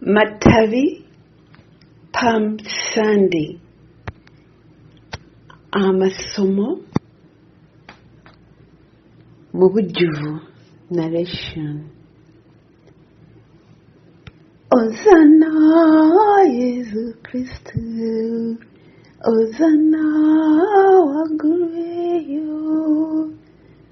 Matabi Palm Sunday amasomo mu bujjuvu narration Hosanna Yesu Kristo Hosanna waggulu eyo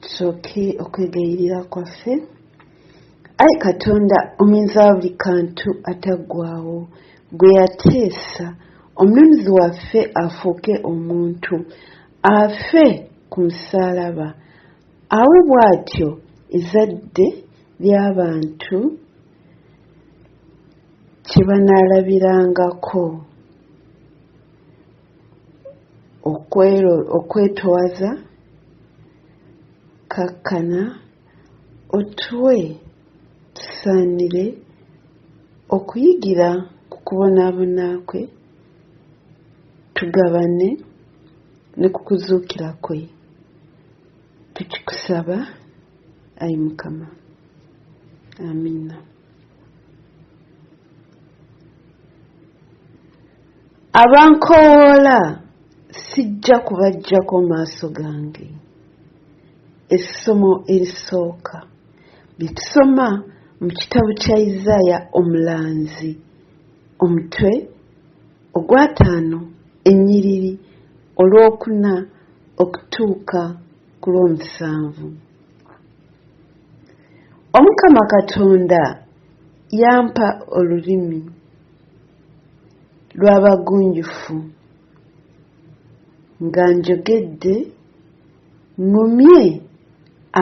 tusooke okwegayirira kwaffe ayi katonda ominza wa buli kantu ataggwawo gwe yateesa omununuzi waffe afuuke omuntu afe ku musaalaba awo bw'atyo ezadde ly'abantu kye banaalabirangako okwetowaza kakkana otuwe tusaanire okuyigira ku kubonaabona kwe tugabane ne ku kuzuukira kwe tukikusaba ayi mukama amiina abankoowoola sijja kubaggyako maaso gange essomo erisooka lye tusoma mu kitabo kya isaaya omulanzi omutwe ogwataano ennyiriri olwokuna okutuuka ku lw'omusanvu Omukama Katonda yampa olulimi lw'abagunjufu nga njogedde ŋŋumye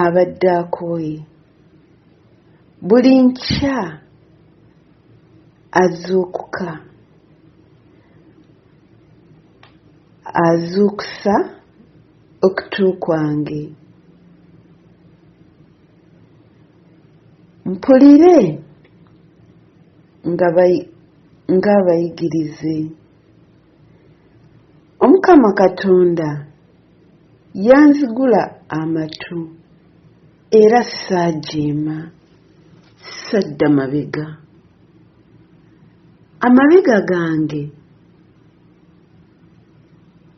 abadde akooye. Buli nkya azuukuka azuukusa Okutu kwange mpulire ng'abayigirize. Omukama Katonda yanzigula amatu era saajeema, sadda mabega. Amabega gange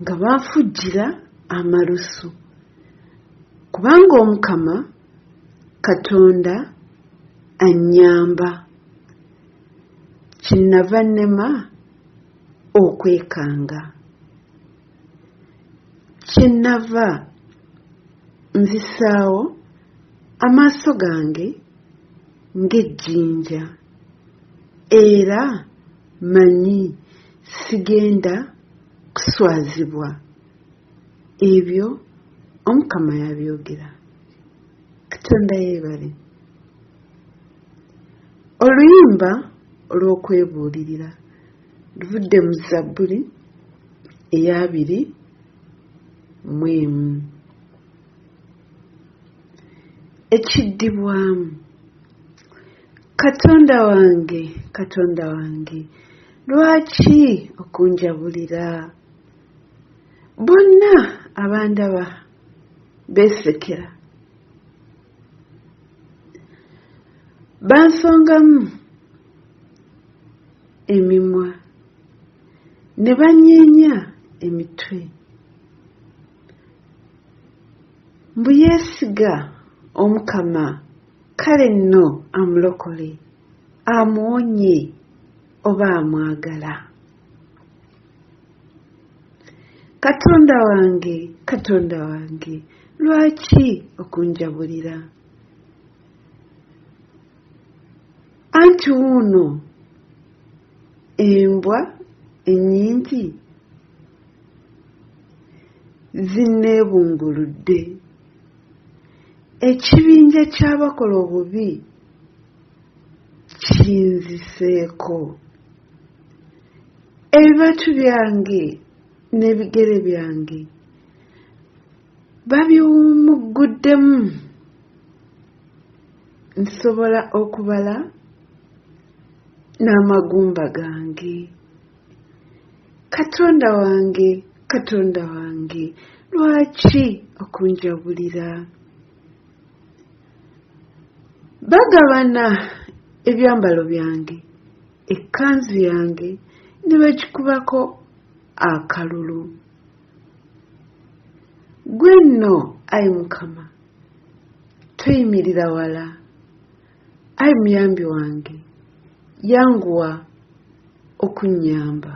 nga baafujjira amalusu kubanga omukama katonda annyamba kinnava nnema okwekanga kinnava nzisaawo amaaso gange ng'ejjinja era Manyi sigenda kuswazibwa. Ebyo Omukama yabyogera. Katonda yeebale. Oluyimba olw'okwebuulirira luvudde mu Zabbuli ey'abiri mu emu. Ekiddibwamu. katonda wange katonda wange lwaki okunjabulira bonna abandaba beesekera bansongamu emimwa ne banyeenya emitwe mbu yeesiga omukama kale nno amulokole amuwonye oba amwagala katonda wange katonda wange lwaki okunjabulira anti wuuno embwa ennyingi zinneebunguludde Ekibinja ky'abakola obubi kinziseeko, ebibatu byange n'ebigere byange babiwumugguddemu, nsobola okubala n'amagumba gange. katonda wange katonda wange lwaki okunjabulira bagabana ebyambalo byange ekkanzu yange ne bagikubako akalulu gwe nno ayi mukama toyimirira wala Ai muyambi wange yanguwa okunnyamba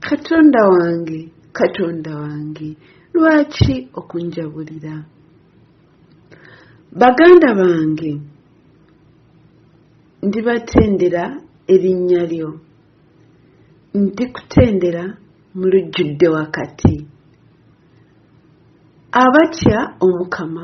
katonda wange katonda wange lwaki okunjabulira baganda bange ndibatendera erinnya lyo ndikutendera mu lujjudde wakati abatya omukama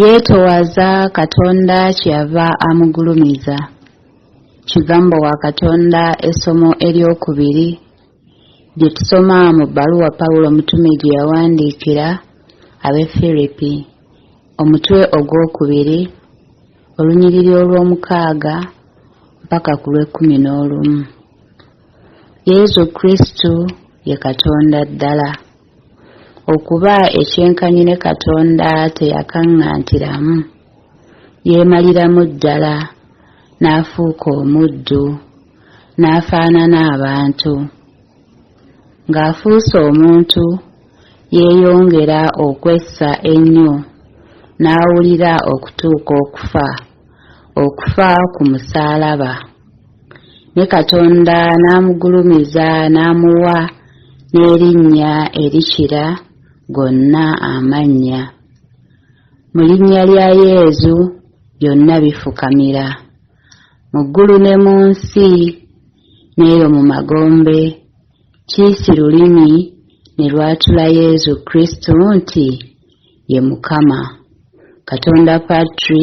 Yeetowaza Katonda kyeyava amugulumiza. Kigambo wa Katonda essomo ery'okubiri lye tusoma mu bbaluwa Pawulo omutume gye yawandiikira ab'e Firipi, omutwe ogw'okubiri, olunyiriri olw'omukaaga mpaka ku lw'ekkumi n'olumu. Yezu Kristu ye Katonda ddala. Okuba ekyenkanyi ne Katonda teyakaŋŋantiramu, yeemaliramu ddala n'afuuka omuddu, n'afaanana abantu. Ng'afuuse omuntu, yeeyongera okwessa ennyo n'awulira okutuuka okufa, okufa ku musaalaba. ne katonda n'amugulumiza n'amuwa n'erinnya erikira gonna amannya mu linnya lya yezu byonna bifukamira mu ggulu ne mu nsi n'eyo mu magombe kiisi lulimi ne lwatula yezu kristu nti ye mukama katonda patri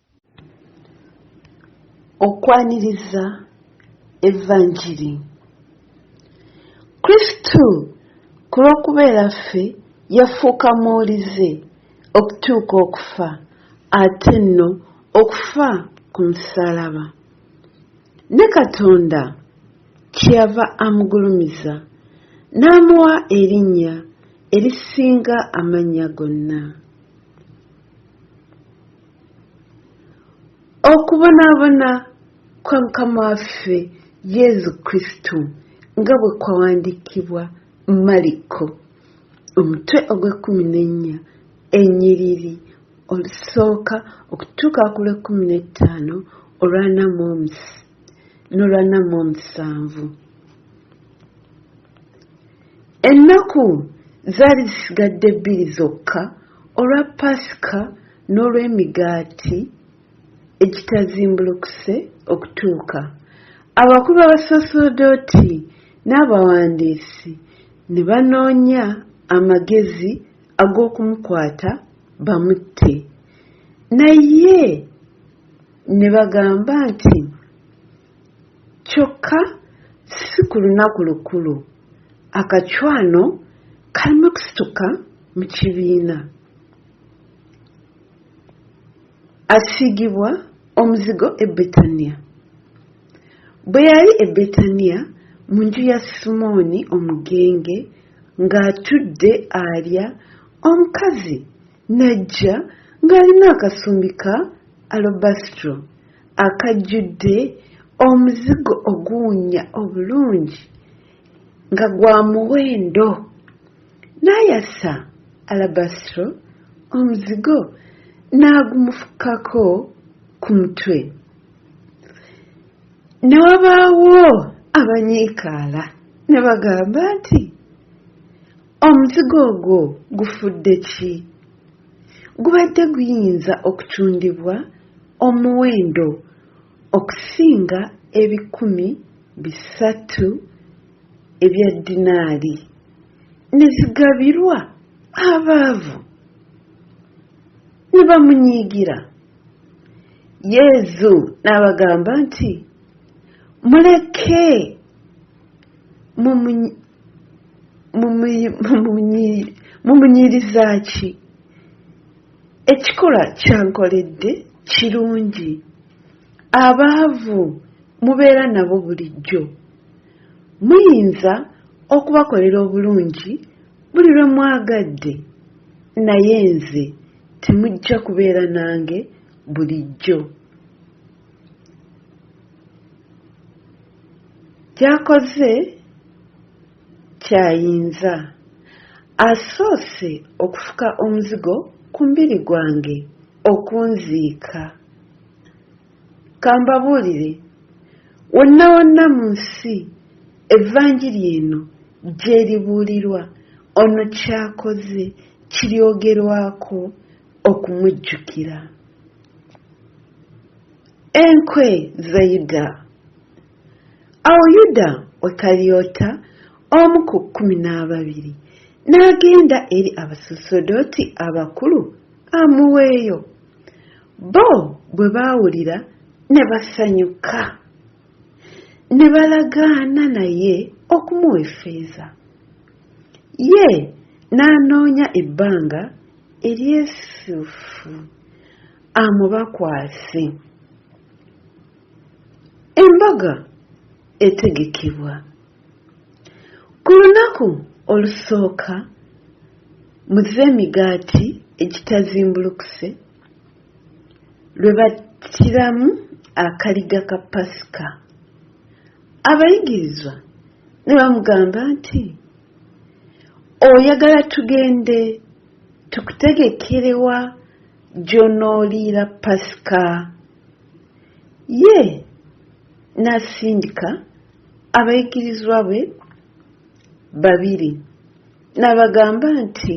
okwaniriza evanjiri kristo ku lw'okubeera ffe yafuuka muwulize okutuuka okufa ate nno okufa ku musalaba ne katonda kyeyava amugulumiza n'amuwa erinnya erisinga amannya gonna Okubonaabona kwa Mukama waffe Yezu Kristu nga bwe kwawandiikibwa Maliko omutwe ogw'ekkumi n'ennya ennyiriri olusooka okutuuka ku lw'ekkumi n'ettaano olw'ana mu omusi n'olw'ana mu omusanvu. Ennaku zaali zisigadde bbiri zokka olwa Paasika n'olw'Emigaati Egitazimbulukuse okutuuka. Abakulu b'Abasaserdooti n'abawandiisi ne banoonya amagezi ag'okumukwata bamutte. Naye ne bagamba nti. Kyokka si ku lunaku lukulu, akacwano kalimu kusituka mu kibiina. Asiigibwa omuzigo e Betaniya. Bwe yali e Betaniya mu nju ya Simooni omugenge ng'atudde alya, omukazi n'ajja ng'alina akasumbi ka alobasitro akajjudde omuzigo oguwunya obulungi nga gwa muwendo n'ayasa alabasitro omuzigo n'agumufukako ku mutwe ne wabaawo abanyiikaala ne bagamba nti Omuzigo ogwo gufudde ki? Gubadde guyinza okutundibwa omuwendo okusinga ebikumi bisatu ebya ddinaali, ne zigabirwa abaavu, ne bamunyiigira. Yezu n'abagamba nti, Muleke, mumu. mumunyiriza ki ekikolwa kyankoledde kirungi abaavu mubeera nabo bulijjo muyinza okubakolera obulungi buli lwe mwagadde naye nze temujja kubeera nange bulijjo Ky'akoze ky'ayinza. Asoose okufuka omuzigo ku mubiri gwange okunziika. Ka mbabuulire, wonna wonna mu nsi Evvanjiri eno gy'eribuulirwa, ono ky'akoze kiryogerwako okumujjukira. Enkwe ze Yuda. Awo Yuda Wekalyota, omu ku kkumi n'ababiri, n'agenda eri abasosodooti abakulu amuweeyo. Bo bwe baawulira ne basanyuka, ne balagaana naye okumuwa effeeza. Ye n'anoonya ebbanga eryessufu. amubakwase. Embaga etegekebwa. Ku lunaku olusooka muzze emigaati egitazimbulukuse lwe battiramu akaliga ka Pasika. Abayigirizwa ne bamugamba nti, Oyagala tugende tukutegekerewa gy'onooliira Pasika. Ye n'asindika abayigirizwa be babiri n'abagamba nti,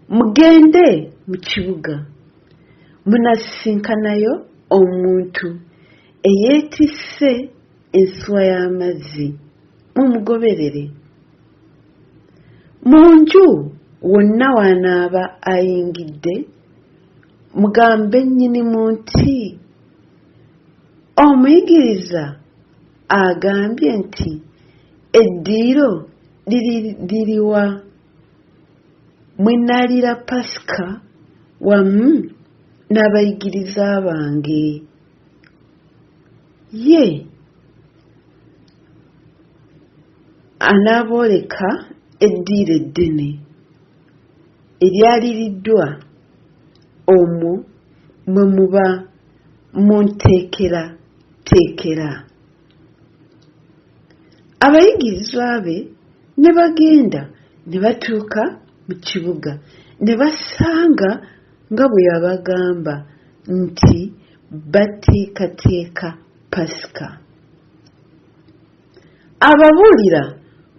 Mugende mu kibuga, munasisinkanayo omuntu eyeetisse ensuwa y'amazzi, mumugoberere. Mu nju wonna w'anaaba ayingidde, mugambe nnyinimu nti, Omuyigiriza agambye nti eddiiro liri liriwa mwe naliira Pasika wamu n'abayigiriza bange? ye anaabooleka eddiiro eddene eryaliriddwa omwo mwe muba munteekerateekera. Abayigirizwa be ne bagenda ne batuuka mu kibuga ne basanga Nga bwe yabagamba nti bateekateeka Pasika. Ababuulira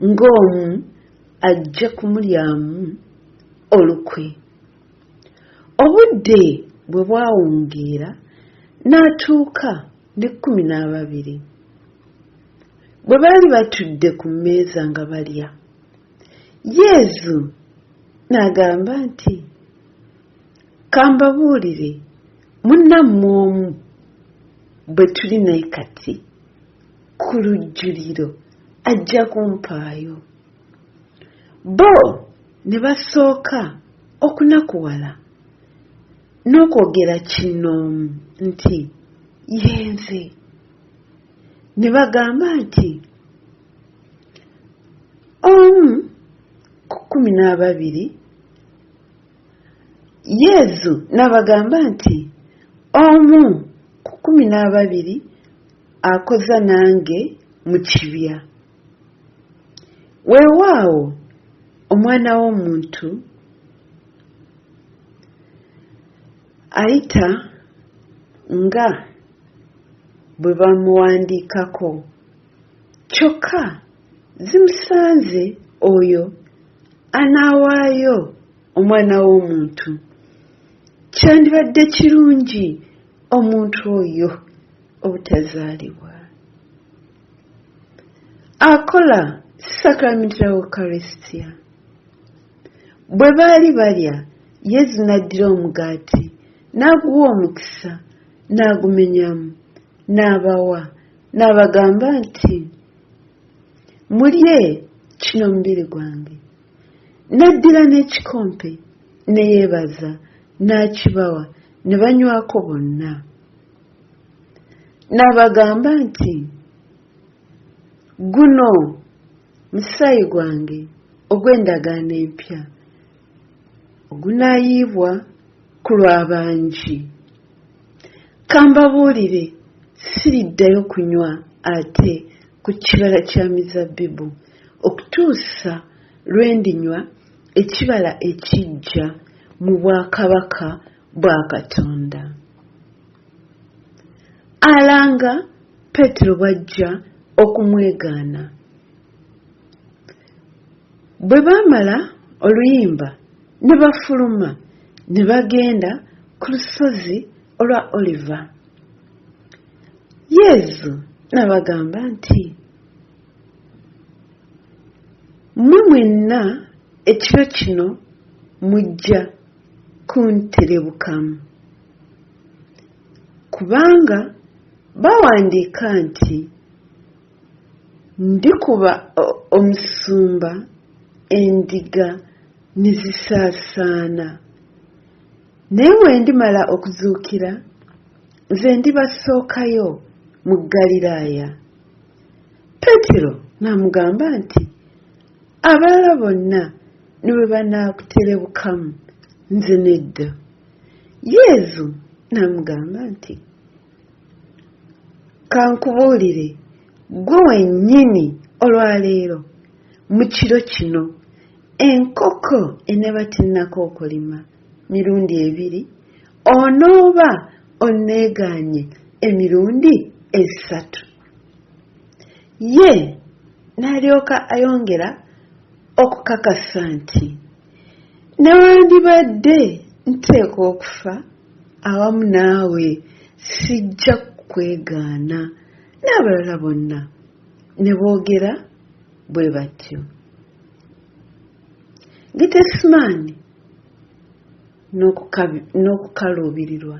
ng'omu ajja kumulyamu olukwe. Obudde bwe bwawungeera n'atuuka n'ekkumi n'ababiri. Bwe baali batudde ku mmeeza nga balya, Yezu n'agamba nti. kambabuulire munnammwe omu bwe tuli naye kati ku lujjuliro ajja kumpaayo bo ne basooka okunakuwala n'okwogera kinnoomu nti yenze ne bagamba nti omu ku kkumi n'ababiri Yezu n'abagamba nti, Omu ku kkumi n'ababiri akoza nange mu kibya. Weewaawo Omwana w'Omuntu ayita nga bwe bamuwandiikako. Kyokka zimusanze oyo anaawaayo Omwana w'omuntu! Kyandibadde kirungi omuntu oyo obutazaalibwa. Akola Sacrament of Eucharistia. Bwe baali balya, Yesu n'addira omugaati, n'aguwa omukisa, n'agumenyamu, n'abawa. n'abagamba nti mulye kino mubiri gwange n'addira n'ekikompe ne yeebaza n'akibawa ne banywako bonna n'abagamba nti guno musaayi gwange ogw'endagaano empya ogunaayiibwa ku lw'abangi Kambabuulire, siriddayo kunywa ate ku kibala kya mizabbibu, okutuusa lwe ndinywa ekibala ekiggya mu bwakabaka bwa Katonda. Alanga Peetero bw'ajja okumwegaana. Bwe baamala oluyimba ne bafuluma ne bagenda ku lusozi olwa Oliva. Yezu n'abagamba nti, Mmwe mwenna ekiro kino mujja kunterebukamu. Kubanga bawandiika nti. Ndikuba omusumba endiga ne zisaasaana. Naye bwe ndimala okuzuukira, nze ndibasookayo mu Ggaliraaya. Peetero n'amugamba nti, Abalala bonna ne bwe banaakuterebukamu, nze nedda. Yezu n'amugamba nti, kankubuulire ggwe wennyini olwaleero mu kiro kino enkoko eneeba tennako okulima mirundi ebiri onooba onneegaanye emirundi esatu ye n'alyoka ayongera okukakasa nti Newandibadde nteekwa okufa awamu naawe, sijja kukwegaana. N'abalala bonna ne boogera bwe batyo. Getesemaani n'okukaluubirirwa.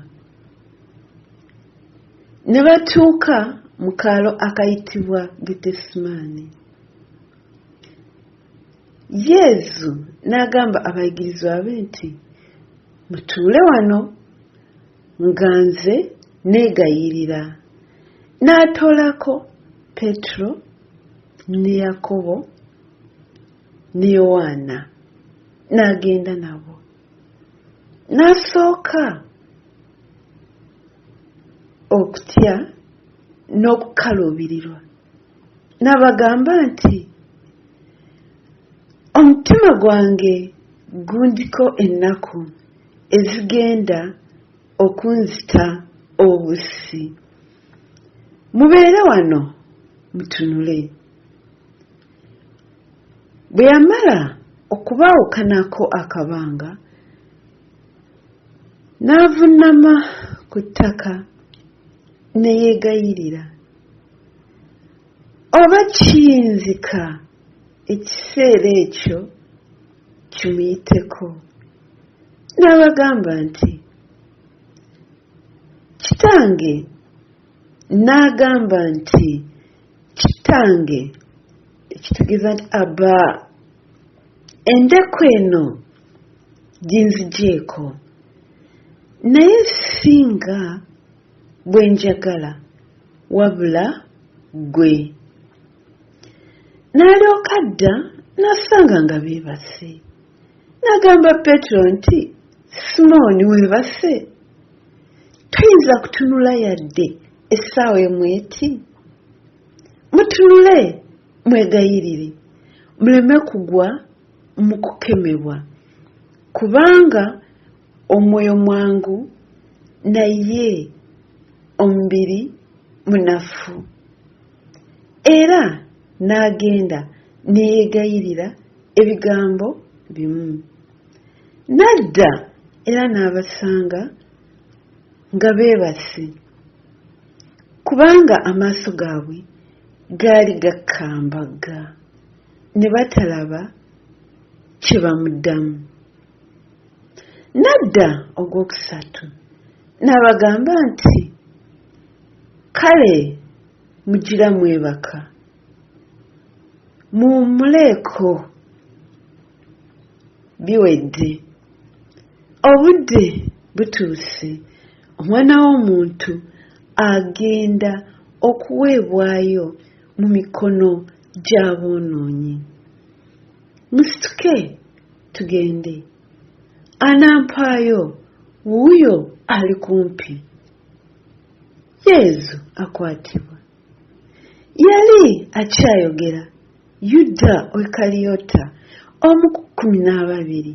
Ne batuuka mu kaalo akayitibwa Getesemaani. yezu n'agamba abayigirizwa be nti mutuule wano nga nze neegayirira n'atoolako petero ne yakobo ne yowaana n'agenda nabo n'asooka okutya n'okukaluubirirwa N'abagamba nti, Omutima gwange gundiko ennaku ezigenda okunzita obussi. Mubeere wano mutunule. Bwe yamala okubaawukanako akabanga, n'avunnama ku ttaka ne yeegayirira. Oba kiyinzika ekiseera ekyo kimuyiteko. N'abagamba nti, Kitange, n'agamba nti, Kitange, ekitegeeza nti Abba, endeku eno ginzigyeko, naye si nga Bwe njagala wabula ggwe. N'alyoka adda n'asanga nga beebase. N'agamba Peetero nti, Simooni weebase? Toyinza kutunula yadde essaawa emu eti? Mutunule mwegayirire muleme kugwa mu kukemebwa, kubanga Omwoyo mwangu naye omubiri munafu. Era n'agenda ne yeegayirira ebigambo bimu. N'adda era n'abasanga nga beebase, kubanga amaaso gaabwe gaali gakambagga, ne batalaba kye bamuddamu. Nadda ogwokusatu n'abagamba nti, Kale mugira mwebaka, muwummuleeko, biwedde. Obudde butuuse Omwana w'Omuntu agenda okuweebwayo mu mikono gy'aboonoonyi. Musituke tugende anampaayo wuuyo ali kumpi yezu akwatibwa yali akyayogera yuda wekaliyota omu ku kkumi n'ababiri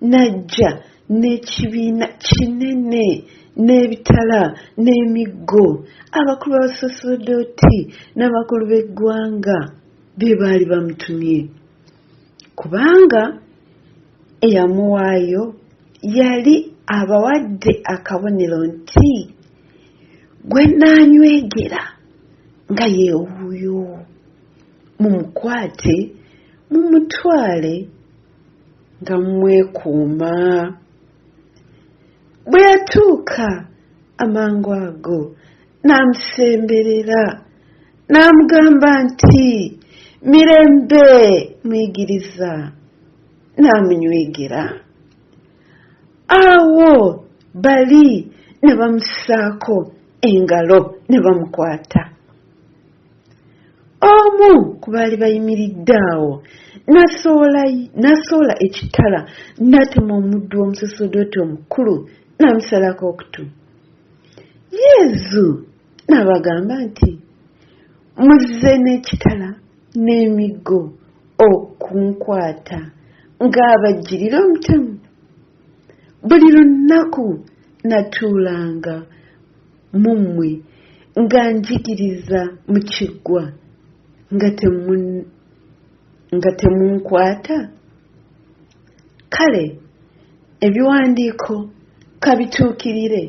n'ajja n'ekibiina kinene n'ebitala n'emiggo abakulu b'abasaserodooti n'abakulu b'eggwanga be baali bamutumye kubanga eyamuwaayo yali abawadde akabonero nti gwe nnaanywegera nga yeewuuyo mumukwate mumutwale nga mmwekuuma bwe yatuuka amangu ago n'amusemberera n'amugamba nti mirembe muyigiriza n'amunywegera awo bali ne bamusaako engalo ne bamukwata omu ku baali bayimiridde awo n'asoola ekitala n'atema omuddu omusosodooti omukulu n'amusalako okutu yezu n'abagamba nti muzze n'ekitala n'emiggo okunkwata ng'abajjirira omutemu buli lunaku natuulanga mu mmwe nga njigiriza mu kiggwa nga temunkwata Kale ebiwandiiko ka bituukirire.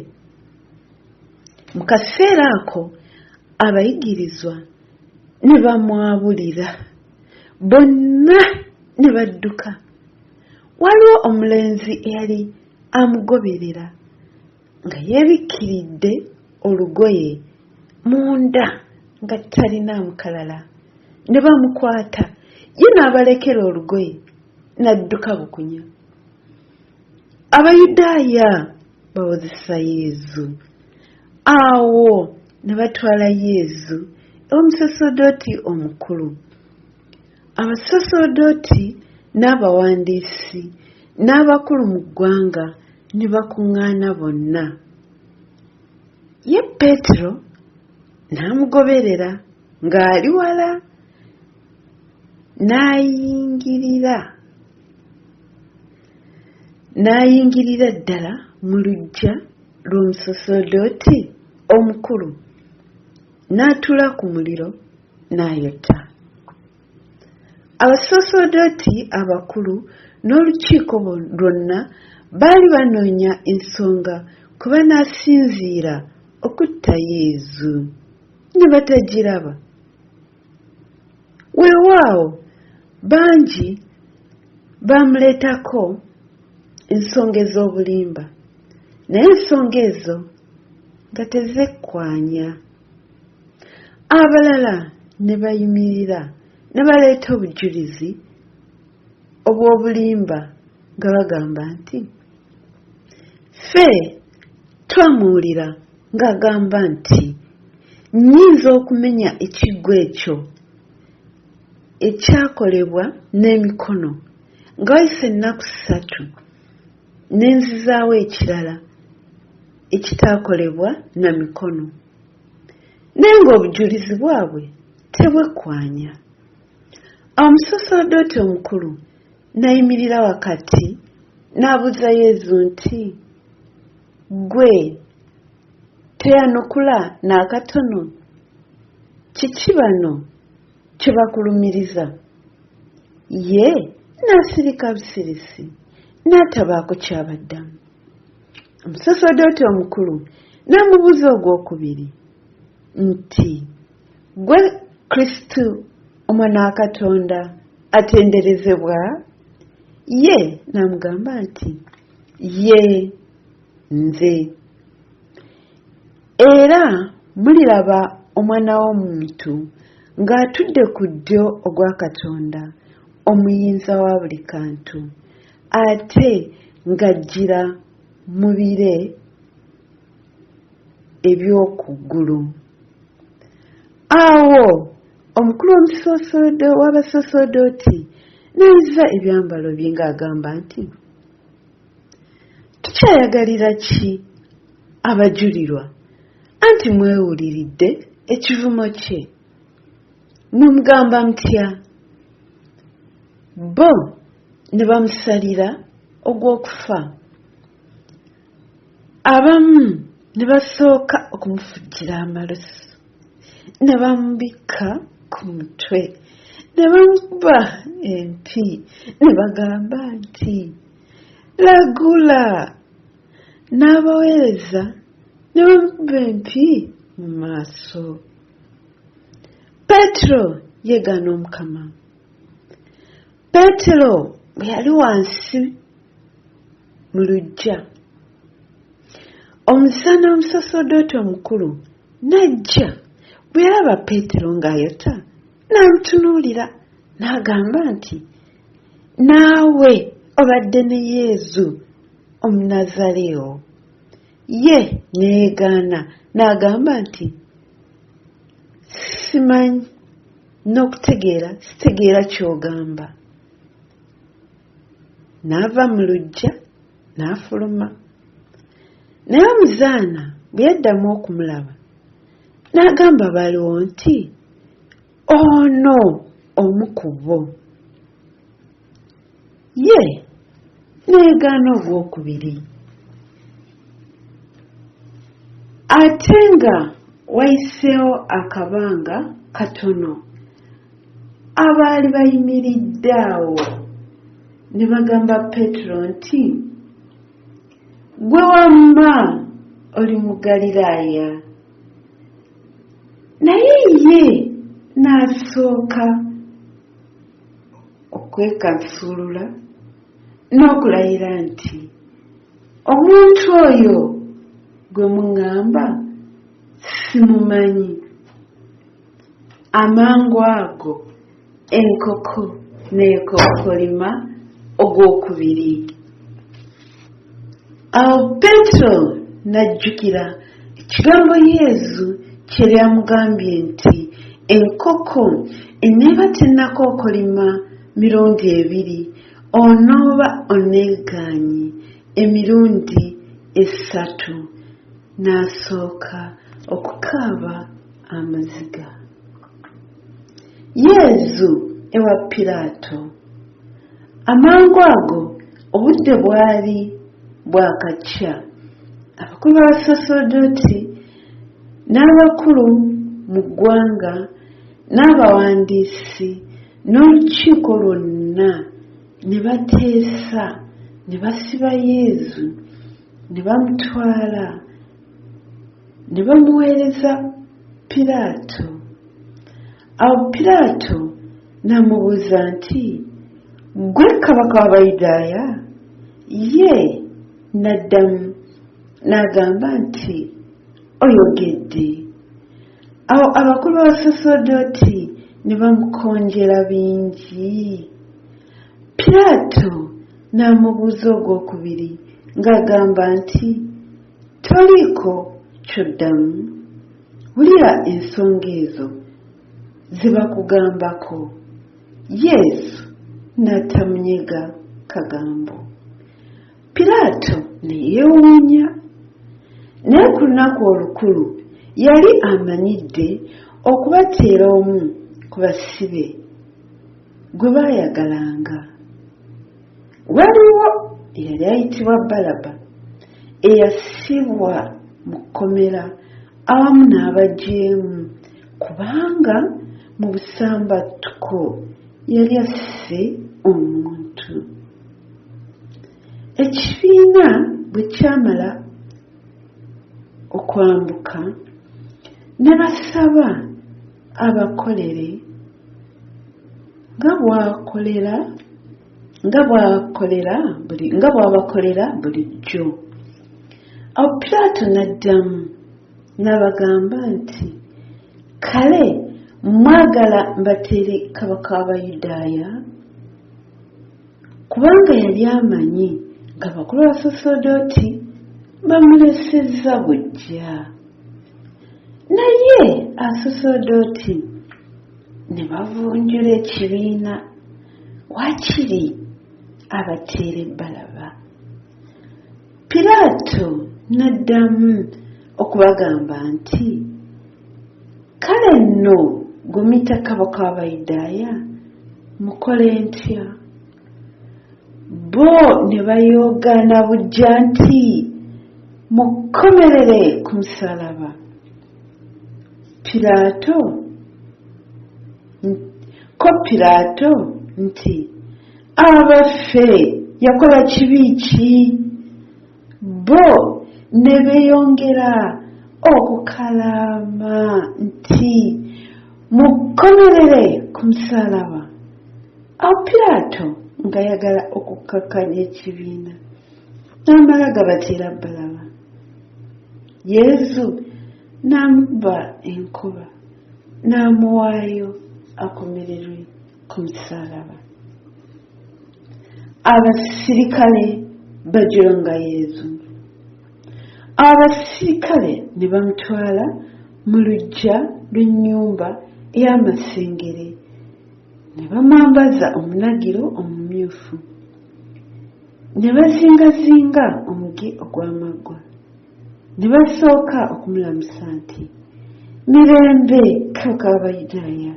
Mu kaseera ako abayigirizwa ne bamwabulira bonna ne badduka. Waliwo omulenzi eyali amugoberera. nga yeebikkiridde olugoye munda nga talinaamu kalala ne bamukwata ye n'abalekera olugoye n'adduka bukunya abayudaaya bawozesa yezu awo ne batwala yezu omusaserdoti omukulu Abasaserdooti n'abawandiisi n'abakulu mu ggwanga ne bakuŋŋaana bonna. Ye Peetero n'amugoberera ng'ali wala n'ayingirira n'ayingirira ddala mu luggya lw'omusaserdooti omukulu n'atuula ku muliro n'ayetta. Abasaserdooti abakulu n'olukiiko lwonna baali banoonya ensonga kwe banaasinziira okutta Yezu, ne batagiraba. Weewaawo, bangi baamuleetako ensonga ez'obulimba, naye ensonga ezo nga tezekkaanya. abalala ne bayimirira ne baleeta obujulizi obw'obulimba nga bagamba nti ffe twamuwulira ng'agamba nti nnyinza okumenya ekiggwa ekyo ekyakolebwa n'emikono nga wayise ennaku ssatu ne nzizaawo ekirala ekitaakolebwa na mikono naye ng'obujulizi bwabwe tebwekwanya. Awo omusaserdooti omukulu nayimirira wakati n'abuuza Yezu nti, Ggwe teyanukula n'akatono? Kiki bano kye bakulumiriza? Ye n'asirika busirisi n'atabaako ky'abaddamu. omusosodooti omukulu n'amubuuza ogw'okubiri nti gwe kristo omwana wa katonda atenderezebwa ye n'amugamba nti ye nze era muliraba omwana w'omuntu ng'atudde ku ddyo ogwa katonda omuyinza wa buli kantu ate ng'ajjira mu bire eby'oku ggulu. Awo omukulu w'omusoosodo w'abasoosodooti n'ayuza ebyambalo bye ng'agamba nti, Tukyayagalira ki abajulirwa, anti mwewuliridde ekivumo kye? Mumugamba mutya? Bo ne bamusalira ogw'okufa abamu ne basooka okumufujjira amalusu ne bamubikka ku mutwe ne bamukuba empi ne bagamba nti lagula n'abaweereza ne bamukuba empi mu maaso petero yegaana omukama peetero bwe yali wansi mu luggya omusana omusosodooti omukulu n'ajja bwe yalaba peetero ng'ayota n'amutunuulira n'agamba nti naawe obadde ne yezu omunazaleewo ye neyegaana n'agamba nti simanyi n'okutegeera sitegeera ky'ogamba n'ava mu luggya n'afuluma naye omuzaana bwe yaddamu okumulaba n'agamba baliwo nti ono omu ku bo ye n'egaana ogwokubiri ate nga wayiseewo akabanga katono abaali bayimiridde awo ne bagamba peetero nti gwe wamma oli mu galilaaya naye ye n'asooka okwekansuulula n'okulayira nti omuntu oyo gwe muŋŋamba simumanyi amangu ago enkoko n'ekokkolima ogw'okubiri awo peetero n'ajjukira ekigambo yezu kye lyamugambye nti enkoko eneeba tennakookolima mirundi ebiri onooba oneegaanyi emirundi essatu n'asooka okukaaba amaziga Yezu ewa Piraato. Amangu ago obudde bwali bwakakya, abakulu b'abasaserdooti n'abakulu mu ggwanga n'abawandiisi n'olukiiko lwonna ne bateesa ne basiba Yezu ne bamutwala Ne bamuweereza Piraato. Awo Piraato n'amubuuza nti, Ggwe kabaka w'Abayudaaya? Ye n'addamu n'agamba nti, Oyogedde. Awo abakulu b'abasaserdooti ne bamukonjera bingi. Piraato n'amubuuza ogwokubiri ng'agamba nti, Toliiko ky'oddamu. Wulira ensonga ezo ze bakugambako. Yesu n'atamunyega kagambo. Piraato ne yeewuunya. Naye ku lunaku olukulu yali amanyidde okubateera omu ku basibe gwe baayagalanga. waliwo eyali ayitibwa balaba eyasibwa mu kkomera awamu n'abajeemu kubanga mu busambattuko yali asse omuntu ekibiina bwe kyamala okwambuka ne basaba abakolere nga bwakolera nga bwakolera buli nga bwabakolera bulijjo awo piraato n'addamu n'abagamba nti kale mwagala mbateere kabaka w'abayudaaya Kubanga yali amanyi ng'abakulu b'Abasaserdooti bamulesezza buggya. Naye Abasaserdooti ne bavunjula ekibiina, waakiri abateere Balaba. Piraato n'addamu okubagamba nti. Kale nno gumita kabaka w'Abayudaaya, mukole ntya? Bo ne bayoogaana buggya nti, Mukomerere ku musaalaba! Piraato, ko Piraato nti, Abaffe yakola kibi ki? bo ne beeyongera okukalaama nti mukomerere ku musaalaba awo piraato ng'ayagala okukkakkanya ekibiina n'amala gabatira bbalaba yezu n'amubba enkuba n'amuwaayo akomererwe ku musaalaba abasirikale bajolanga yezu abasirikale ne bamutwala mu luggya lw'ennyumba ey'amasengere ne bamwambaza omunagiro omumyufu ne bazingazinga omuge ogw'amaggwa ne basooka okumulamusa nti mirembe kabaka w'abayudaaya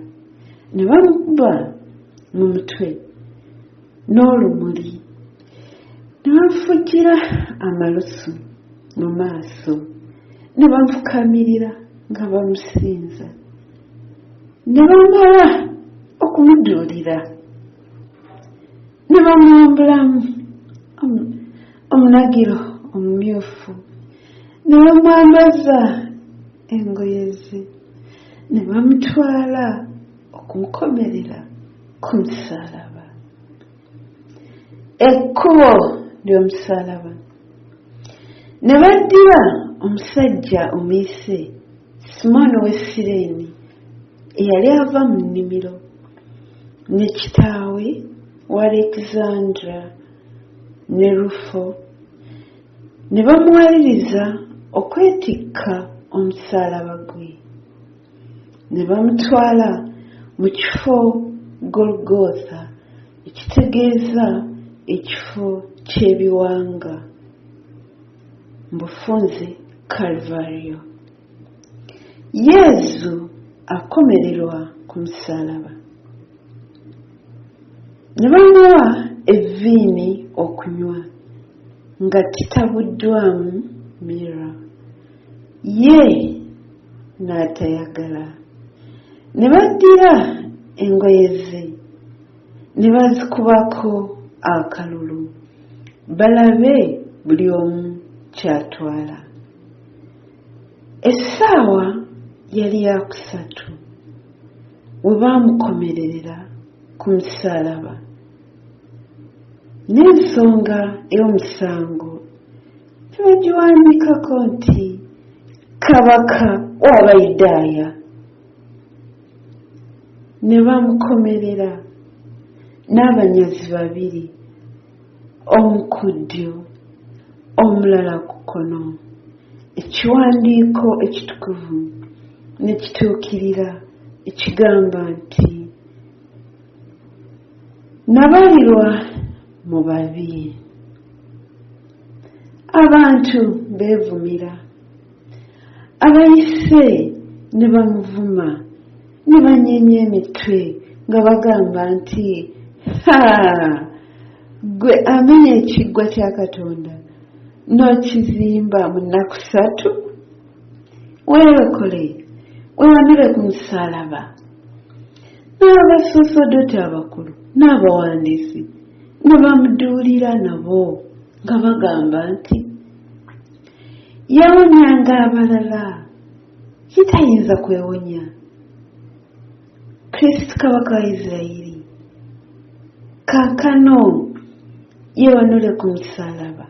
ne bamukuba mu mutwe n'olumuli ne bamufukira amalusu mu maaso ne bamufukamirira nga bamusinza ne bamala okumuduulira ne bamwambulamu omunagiro omumyufu ne bamwambaza engoye ze ne bamutwala okumukomerera ku musaalaba ekkubo ly'omusaalaba ne baddira omusajja omuyise simooni ow'e sireeni eyali ava mu nnimiro ne kitaawe wa alexandra ne Rufo ne bamuwaliriza okwetikka omusaalaba gwe, ne bamutwala mu kifo Golgotha, ekitegeeza Ekifo ky'Ebiwanga, mu bufunze Kalvario. yezu akomererwa ku musaalaba ne bamuwa evviini okunywa nga titabuddwamu mira ye n'atayagala ne baddira engoye ze ne bazikubako akalulu balabe buli omu ky'atwala Essaawa yali ya kusatu we baamukomererera ku musaalaba, n'ensonga ey'omusango ne bagiwandiikako nti, Kabaka w'Abayudaaya. Ne bamukomerera n'abanyazi babiri. omu ku ddyo omulala ku kkono ekiwandiiko ekitukuvu ne kituukirira ekigamba nti nabalirwa mu babi abantu beevumira abayise ne bamuvuma ne banyeenya emitwe nga bagamba nti ha gwe amenya ekiggwa kya katonda n'okizimba mu nnaku ssatu weerokole wewanire ku musaalaba n'abasosodote abakulu n'abawandiisi ne bamuduulira nabo nga bagamba nti yawonyanga abalala ye tayinza kwewonya kristo kabaka wa isirayiri kaakano yewanule ku musalaba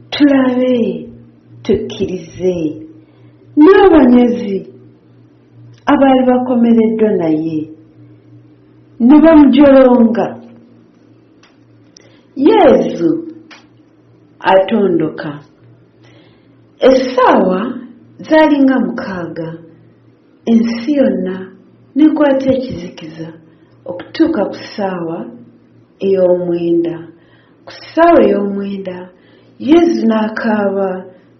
tulabe tukkirize n'abanyazi abaali bakomereddwa naye ne bamujolonga yezu atondoka Essaawa zaali nga mukaaga, ensi yonna n'ekwata ekizikiza okutuuka ku ssaawa ey'omwenda. Ku ssaawa ey'omwenda, Yezu n'akaaba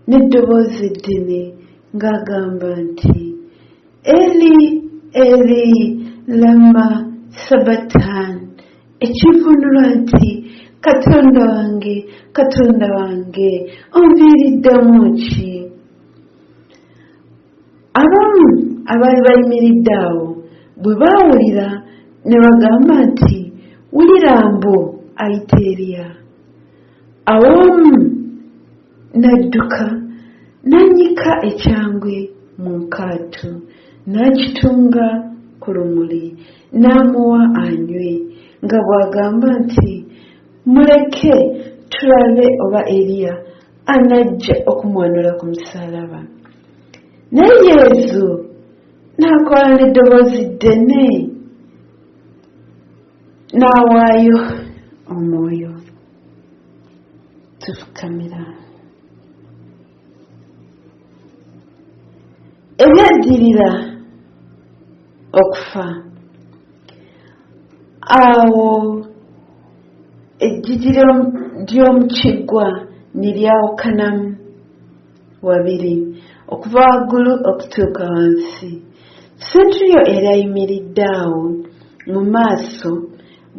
n'eddoboozi eddene ng'agamba nti. Eli Eli lama sabatan ekivunulwa nti katonda wange katonda wange onviiriddemu ki abamu abaali bayimiridde awo bwe baawulira ne bagamba nti wulira mbu ayita eriya awo omu Nadduka n'annyika ekyangwe mu nkaatu n'akitunga ku lumuli n'amuwa anywe nga bw'agamba nti, Muleke tulabe oba Eriya anajja okumwanula ku musaalaba. Naye Yezu n'akola n'eddoboozi ddene n'awaayo omwoyo. tufukamira ebyaddirira okufa awo eggigi ly'omu kiggwa ne lyawukanamu wabiri okuva waggulu okutuuka wansi senturiyo erayimiridde awo mu maaso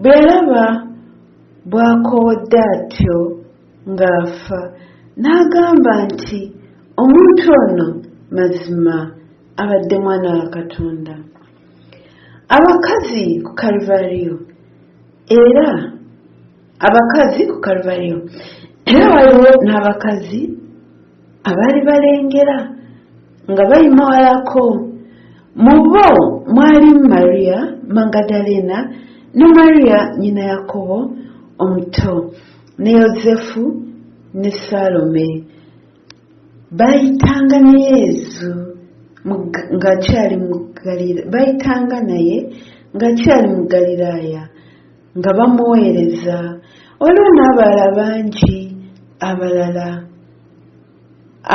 bwe yalaba Bw'akoowodde atyo ng'afa, n'agamba nti, Omuntu ono mazima abadde Mwana wa Katonda. Abakazi ku Kalvariyo, era abakazi ku Kalvariyo, era waliwo n'abakazi. Abaali balengera nga bayima walako, mu bo mwalimu Maria Magadalena, ne Maria nnyina Yakobo omuto, ne Yozefu, ne Salome. Baayitanga ne Yezu ng'akyali mu Ggaliraaya. nga bamuweereza waliwo n'abalala bangi abalala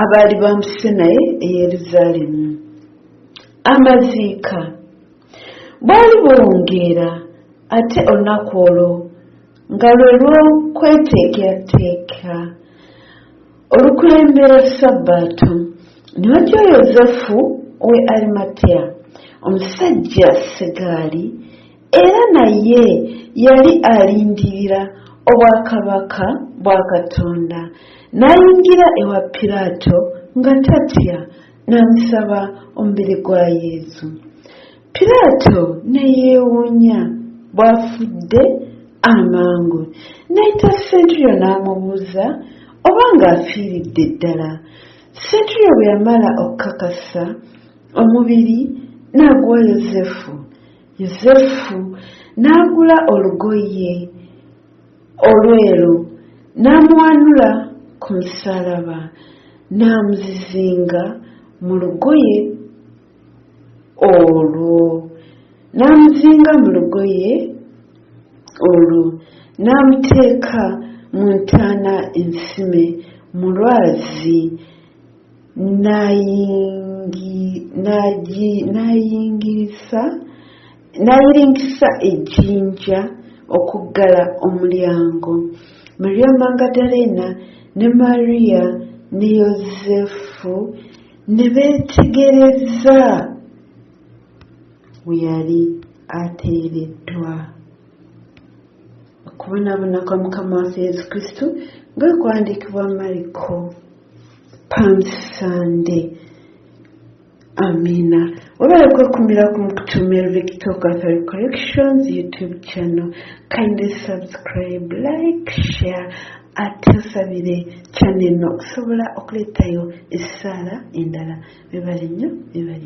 abaali bampise naye e yerusaalemu amaziika bwali buwungeera ate olunaku olwo nga lwe lw'okweteekerateeka olukulembera sabbaato ne batya yozefu we arimateya omusajja segaali Era naye yali alindirira obwakabaka bwa Katonda. N'ayingira ewa Piraato nga tatya, n'amusaba omubiri gwa Yezu. Piraato ne yeewuunya bw'afudde amangu. N'ayita Senturio n'amubuuza oba ng'afiiridde ddala. Senturio bwe yamala okukakasa, omubiri n'aguwa Yozefu. Yosefu n'agula olugoye olweru n'amuwanula ku musaalaba n'amuzizinga mu lugoye olwo n'amuzinga mu lugoye olwo n'amuteeka mu ntaana ensime mu lwazi n'ayingirisa n'ayiringisa ejjinja okuggala omulyango. Mariya Magdalena ne Mariya ne Yozefu ne beetegereza we yali ateereddwa. Okubonaabona kwa Mukama waffe Yesu Kristo nga kwawandiikibwa Mariko. palm sunday amina webale kwekumira ku mukutu melvic talk authority collections youtube channel kindly subscribe like share ate osabire channel eno okusobola okuleetayo essaala endala webale nnyo webale